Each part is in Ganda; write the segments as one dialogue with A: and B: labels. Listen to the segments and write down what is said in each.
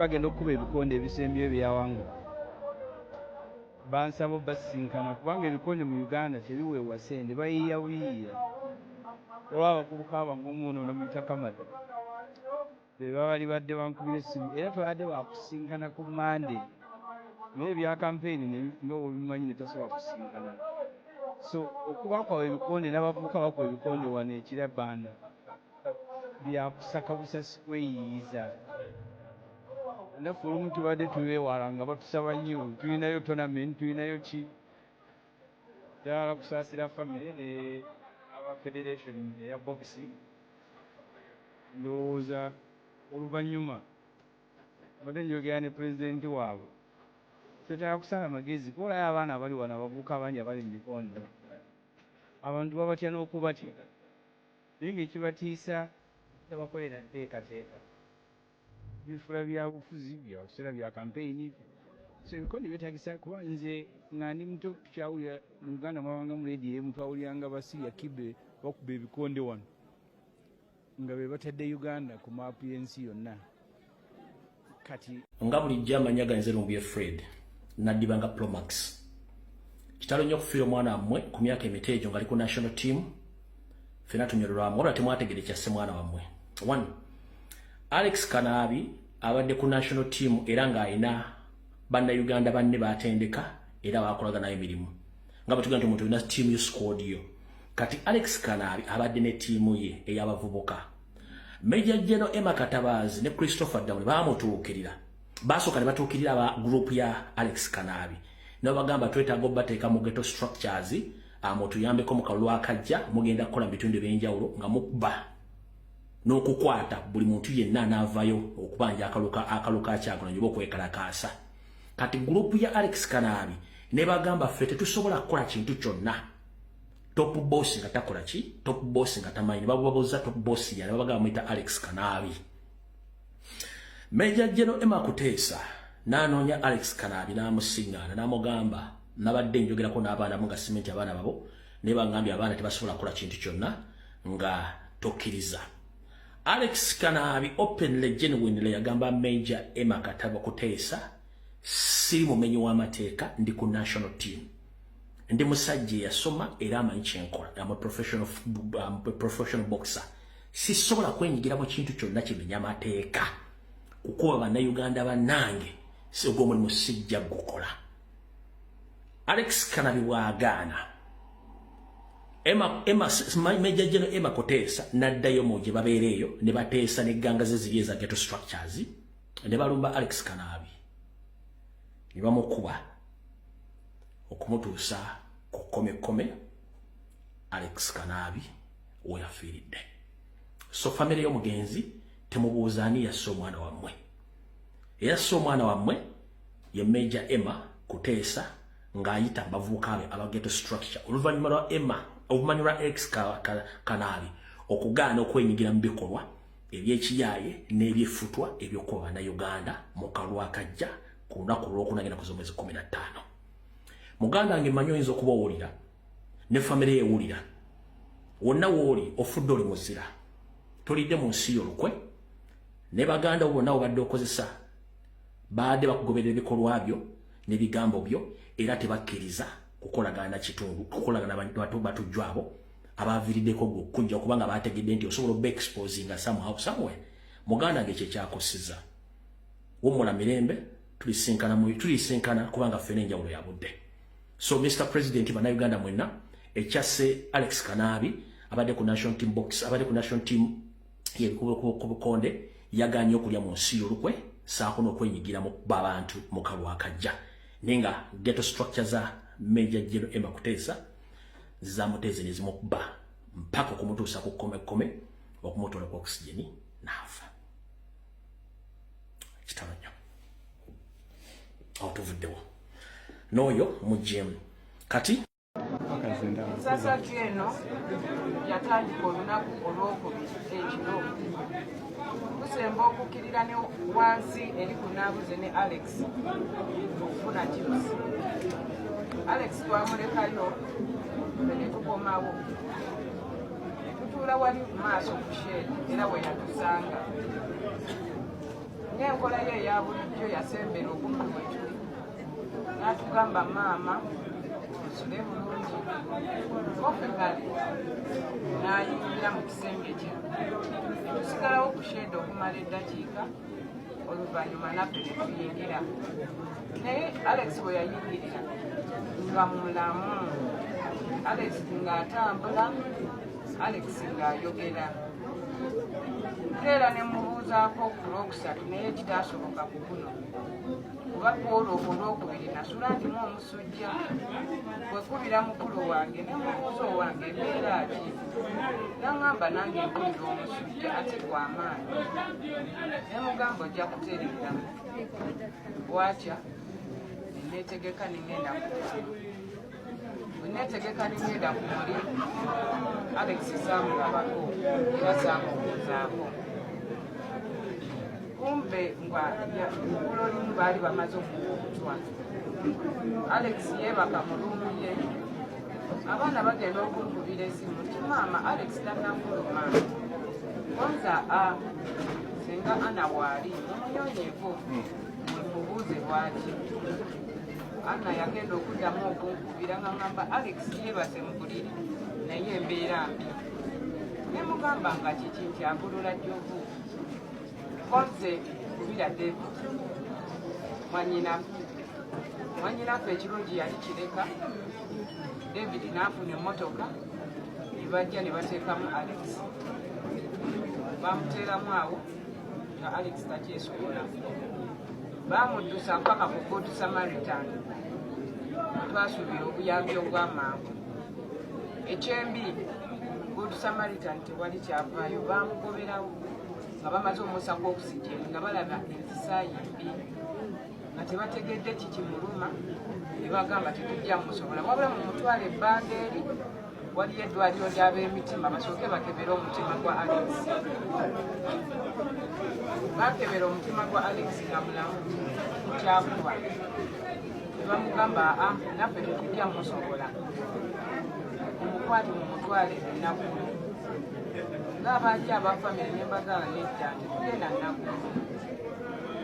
A: bagenda okukuba ebikonde ebisembyeyo byawangula bansaba obasisinkana kubanga ebikonde mu Uganda tebiweebwa ssente bayiiya buyiiya olwo abavubuka abagumu ono ne Mutakamada be babalibadde bankubira essimu era twabadde baakusisinkana ku Mmande naye ebya kampeyini ne nga bwobimanyi ne tasobola kusisinkana so okuba kwabwe ebikonde n'abavubuka bakuba ebikonde wano e Kira Banda. byakusaka busasi kweyiyiza naffe olumu tubadde tubewala nga batusaba nnyo tulinayo tournament tulinayo ki ddala kusasira family ne aba federation eya boxing ndowooza oluvanyuma mbadde njogera ne president wabwe twetaaga kusala magezi kuba olayo abaana abali wano abavubuka abangi abali mu bikonde abantu babatya nokubatya. naye nekibatiisa obutabakolera nteekateeka bifula byabufuzi byakiseera bya kampeyini so ebikonde byetagisa kuba nze nga ndi muto tukyawulira mu Uganda mwabangamu leediyo emu twawuliranga Basiria Kibe bakuba ebikonde wano nga bebatadde Uganda ku maapu y'ensi yonna. kati nga bulijjo
B: amanya ganze lumbuye fred nadiba nga promax kitalo nnyo okufiira omwana wammwe ku myaka emito egyo ngaali ku national team fena tunyololwamu wabula temwategede kyasse mwana wammwe one alex kanaabi abadde ku national team era ng'alina bannayuganda banne batendeka era bakolaga nayo emirimu nga bwetugenda nti omuntu olina tiimu yo squad yo kati alex kanaabi abadde ne tiimu ye ey'abavubuka Major General Emma Katabazi ne Christopher Dawe baamutuukirira baasooka ne batuukirira aba group ya Alex Kanaabi ne babagamba twetaaga obateeka mu ghetto structures amutuyambeko mu kalulu akajja mugenda kukola mu bitundu eby'enjawulo nga mukuba n'okukwata buli muntu yenna anaavayo okubanja akaluka akaluka akyagulanyi oba okwekalakaasa kati group ya Alex Kanaabi ne bagamba ffe tetusobola kukola kintu kyonna top boss nga takola ki top boss nga tamanyi babubabuza top boss yali babagamba muyita alex kanaabi meja jeno ema kuteesa nanoonya alex kanaabi n'amusiŋŋaana n'amugamba nabadde njogerako n'abaana mu nga simenti abaana babo naye bangambye abaana tebasobola kukola kintu kyonna nga tokkiriza alex kanaabi openly genuinely yagamba meja ema kataba kuteesa siri mumenyi w'amateeka ndi ku national team ndi musajja eyasoma era amanyi kyenkola am a professional, um, a professional boxer sisobola kwenyigira mu kintu kyonna kimenya mateeka kukuba bannayuganda bannange ogwo omulimu sijja gukola alex kanabi bwagaana majja geno ema kuteesa naddayo mu gye babeera eyo ne bateesa negganga ze ziri eza geto structures ne balumba alex kanaabi ne bamukuba okumutuusa ku kkomekkome alex kanaabi weyafiiridde so famire y'omugenzi temubuuza ani yasse omwana wammwe eyasse omwana wammwe ye major emma kuteesa ng'ayita bavubuka be abageto structure oluvannyuma lwa emma oluvannyuma lwa ex kanaabi okugaana okwenyigira mu bikolwa ebyekiyaaye n'ebyeffutwa eby'okukuba bannayuganda mu kalwa akajja ku lunaku olwokuna genda kuza omwezi kumi na ttaano muganda wange manyi oyinza okuba owulira ne famire yewulira wonna wooli ofudde oli muzira tolidde mu nsi yolukwe ne baganda bo bonna obadde okozesa baadde bakugoberera ebikolwa byo n'ebigambo byo era tebakkiriza kukolagana kitundu kukolagana batujjwabo abaaviiriddeko gwe okukujja kubanga baategedde nti osobola oba exposinga somehow somewhere muganda nge kyekyakusiza wumula mirembe tulisinkana tulisinkana kubanga ffena enjawulo ya budde so mr president bannayuganda mwenna ekyasse alex kanaabi abadde ku national team box abadde ku national team yebikubukonde yaganye okulya mu nsi yolukwe saako n'okwenyigira mu kuba abantu mu kalwakajja naye nga geto structure za major general emma kuteesa zamuteze ne zimukuba mpaka okumutuusa ku kkomekkome okumutola ku oxygen n'afa kitalo nnyo awo tuvuddewo n'oyo mujjemu kati
C: ensasagyo eno yatandika olunaku olwokubiri ekiro tusemba okukkirira ne wansi eri ku naabuze ne alex okufuna chips alex twamulekayo fe ne tukomawo ne tutuula wali mu maaso ku sheedi era we yatusanga ng'enkola ye eya bulijjo yasembera okumpi we tuli n'atugamba maama nsule bulungi kofe kale n'ayingira mu sembejja tusigalawo ku shede okumala eddakiika oluvannyuma naffe netuyingira naye alex bwe yayingirira nga mulamu alex ng'atambula alex ng'ayogera era ne mubuuzaako ku lwokusatu naye kitaasoboka ku guno kuba kwolwo olwokubiri nasula ndimu omusa sujja wekubira mukulu wange nemubuuza owange embeera ki nangamba nange mpulira omusujja ate gwamaanyi nemugamba ojja kutereera bwakya netegeka nengenda netegeka nengenda ku muli alex samulabako era samubuuzaako kumbe nga igulo limu baali bamaze okuwa obutwa alex yeebaka mu lumu ye abaana bagenda okunkubira esimu ti maama alex tanafuluma konza a singa ana waali mumuyonyeeko mubuuze lwaki ana yagenda okuddamu okunkubira nga ngamba alex yeebase mu buliri naye embeera mbi ne mugamba nga kiki nkyagolola jjovu Kozze kubira David mwanyinaku mwanyinaku ekirungi yali kireka David n'afuna emmotoka ne bajja ne bateekamu Alex bamuteeramu awo nga Alex takyesobola bamuddusa mpaka ku Good Samaritan twasuubira obuyambi obw'amangu ekyembi Good Samaritan wali kyavaayo baamugoberawo nga bamaze omwosa gw'okusijeemu nga balaba enzisaayi mbi nga tebategedde kikimuluma ne bagamba tetujja musobola wabula mu mutwalo ebbanga eri waliyo eddwaliro ly'ab'emitima basooke bakebere omutima gwa alex bakebera omutima gwa alex nga mulamu kyakuba bamugamba aa naffe tetujja musobola omukwate mu mutwale ennaku ng'abaaki aba famire ne mbagala nedda tetugenda nnaku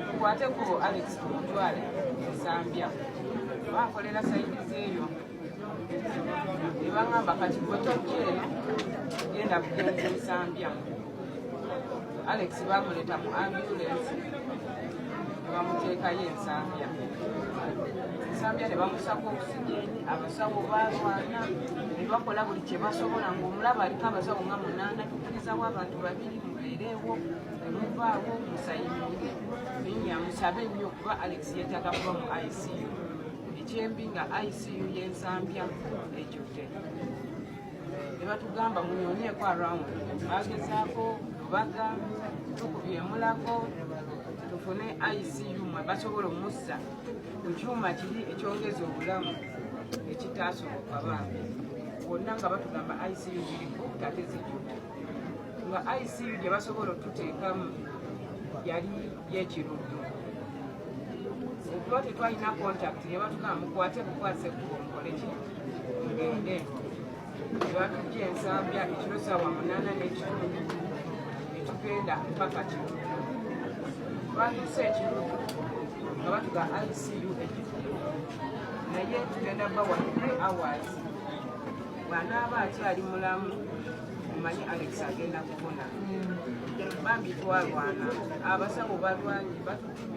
C: tukwateko alex omutwale ensambya bankolera sayidizi eyo nebangamba kati gwe tojja eno genda bugenzi nsambya alex bamuleta mu ambulensi nebamuteekayo ensambya ensambya nebamusako okusijeni abasawo balwana nebakola buli kyebasobola ngaomulaba aliko abasawo nga munaana tukirizawo abantu babiri mubeereewo nemuvaawo musayimire naye nyamusabe nnyo kuba alex yetaga kuba mu icu ekyembi nga icu yensambya ejjudde ne batugamba munyoneeko around bagezaako baga tukubyemulako tufune icu mwe basobola omussa ku kyuma kiri ekyongeza obulamu ekitaasoboka bambi wonna nga batugamba icu ziriku ate zijjudde nga icu gye basobola otuteekamu yali yekiruddu okuba tetwalina contact ne batugamba mukwate bukwase kukonkole ki mugende batujja ensambya ekiro saawa munaana n'ekitundu netugenda mpaka kino twatuuse ekiro nga batuga icu ekikulu naye tugenda bawa three hours bwanaaba akyali mulamu omanyi alex agenda kubona bambi twalwana abasawo balwanyi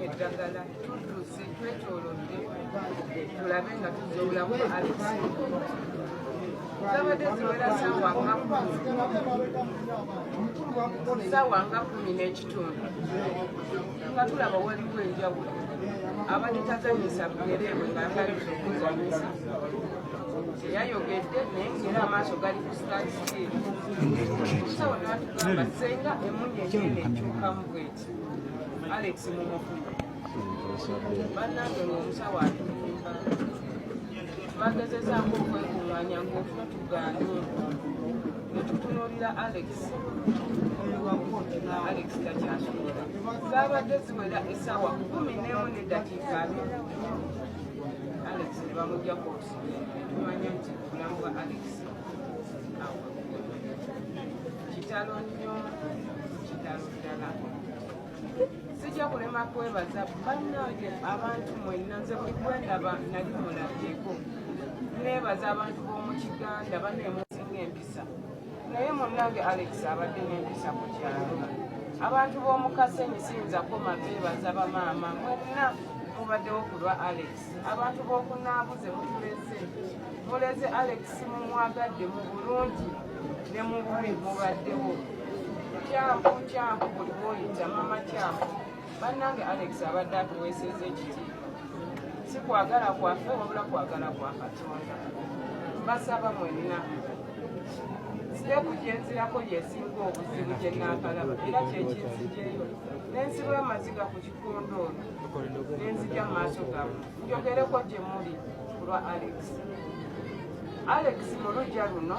C: eddagala tudduse twetolodde tulabe nga tuzobulamu alisi zabadde ziwera sawa nga sawa nga kumi n'ekitundu nga tulaba waliwo enjawulo abadde tazanyisa bugereebwe nga yagaliza okuzanyisa teyayogedde naye ngera amaaso gali ku sitati sawa nabatugamba senga emunyenyenekyukamu bweti Alex mumufuna bannange ng'omusawo atulimba twagezezaako okwekunganya ng'ofuna tugaane netutunuulira alex omuwakuotina alex takyasobola zaabadde ziwera essaawa kumi nemu nedakiika abiri alex ne bamujja koosi netumanya nti obulamu bwa alex awo kitalo nnyo kitalo sijja kulema kwebaza bannange abantu mwenna nze buli gwendaba nali mulabyeko nebaza abantu b'omu kiganda banemusinga empisa naye munnange alex abadde n'empisa ku kyalo abantu b'omu kasenyi siyinza koma bebaza bamaama mwenna mubaddewo ku lwa alex abantu b'oku naabuze mutuleze muleze alex mumwagadde mu bulungi ne mu bubi mubaddewo kyampu kyampu buli bwoyita mama kyampu bannange alex abadde atuweeseza ekitiibwa si kwagala kwaffe wabula kwagala kwa katonda basaba mwenna siteeku gyenzirako yesinga obuzibu gye naakalaba era kyekinzijeyo nensiba amaziga ku nenzija mu maaso gammwe njogereko gye muli ku lwa alex alex mu lujja luno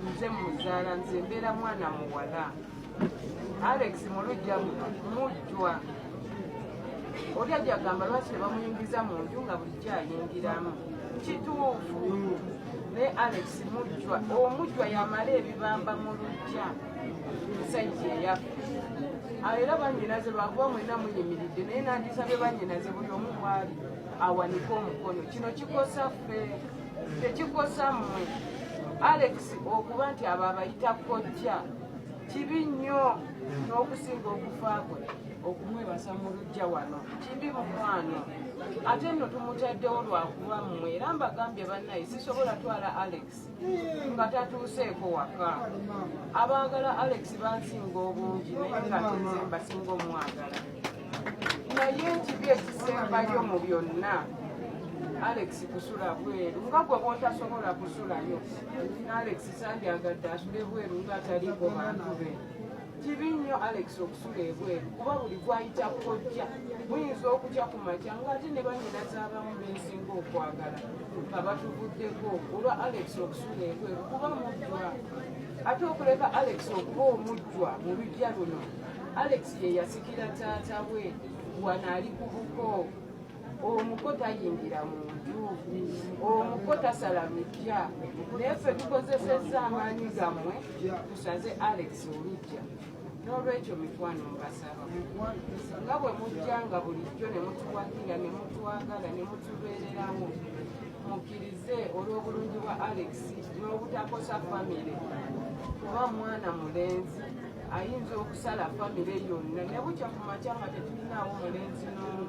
C: nze muzaala nze mbeera mwana muwala alex mu lujja luno mujjwa oli ajagamba lwaki tebamuyingiza mu nju nga bulijjo ayingiramu kituufu naye alex mujjwa omujjwa yamala ebibamba mu lujja musajja eyafa ah, era banyinaze lwakuba mwena muyimiridde naye nandisabye banyinaze buli omu bwali awanike omukono kino kikosa ffe tekikosa mmwe alex okuba nti abo abayita kojja kibi nnyo n'okusinga okufa kwe okumwebasa mu lujja wano kibi mukwano ate nno tumutaddewo lwakuba mmwe era mbagambye bannaye sisobola twala alex nga tatuuseeko waka abaagala alex bansinga obungi naye nga tenze mbasinga omwagala naye ekibi ekisembayo mu byonna alex kusula bweru nga gwe bwotasobola kusulayo alex sandyagadde asule bweru nga ataliiko bantu be kibi nnyo alex okusula ebweru kuba buli gwayita kojja muyinza okutya ku makya ngaate ne banyina z'abamu bensinga okwagala nga batuvuddeko olwa alex okusula ebweru kuba mujjwa ate okuleka alex okuba omujjwa mu lujja luno alex ye yasikira taata we wano ali ku buko omuko tayingira mu nju omuko tasala lujja naye ffe tukozesezza amaanyi gammwe tusaze alex olujja n'olwekyo mikwano mbasaba nga bwe mujjanga bulijjo ne mutuwagira ne mutwagala ne mutubeererawo mukkirize olw'obulungi bwa alex n'obutakosa famire kuba mwana mulenzi ayinza okusala famire yonna ne bukya ku makya nga tetulinaawo mulenzi n'omu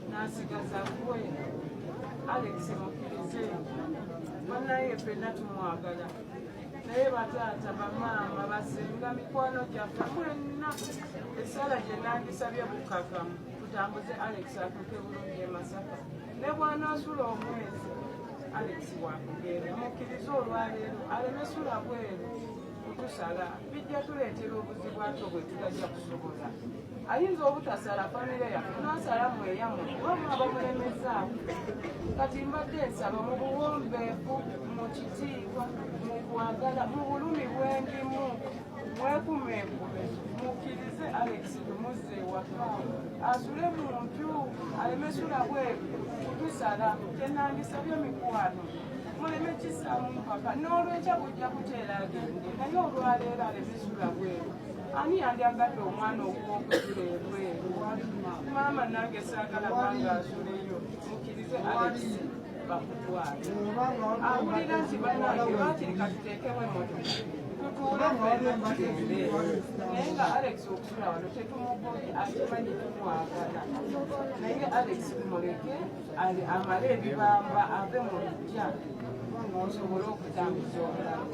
C: n'asigaza gwe alex mukkirize banaye fenna tumwagala naye bataata bamaama basinga mikwano gyaffe mwenna esaala gye nandisabye bukakamu tutambuze alex atuuke bulungi e masaka ne bwanaasula omwezi alex wakugenda mukkirize olwaleero aleme sula bweru kutusala bijja tuleetera obuzibu ate bwe tutajja kusobola ayinza obutasala famire yaffe nasala mweyamu kuba mwaba mulemezaaku kati mbadde nsaba mu buwombeefu mu kitiibwa mu kwagala mu bulumi bwendimu mwekumeekume mukkirize alex lumuzze ewaka asule mu nju alemesula bweru kutusala kyenandisabye mikwano Muleme kisaamu mpaka n'olwenkya bujja kuteera agende naye olwaleero alemesula bweru ani yali agadde omwana okuwokuzula ebweru maama nange saagala bange asuleyo mukirize alesi bakutwale awulira nti banange bakiri katuteekemu emotoka tutuule fenatugende naye nga alex okusula wano tetumugobye akimanyi tumwagala naye alex muleke amale ebibamba ave mu lujja kubanga osobola okutambuza obulamu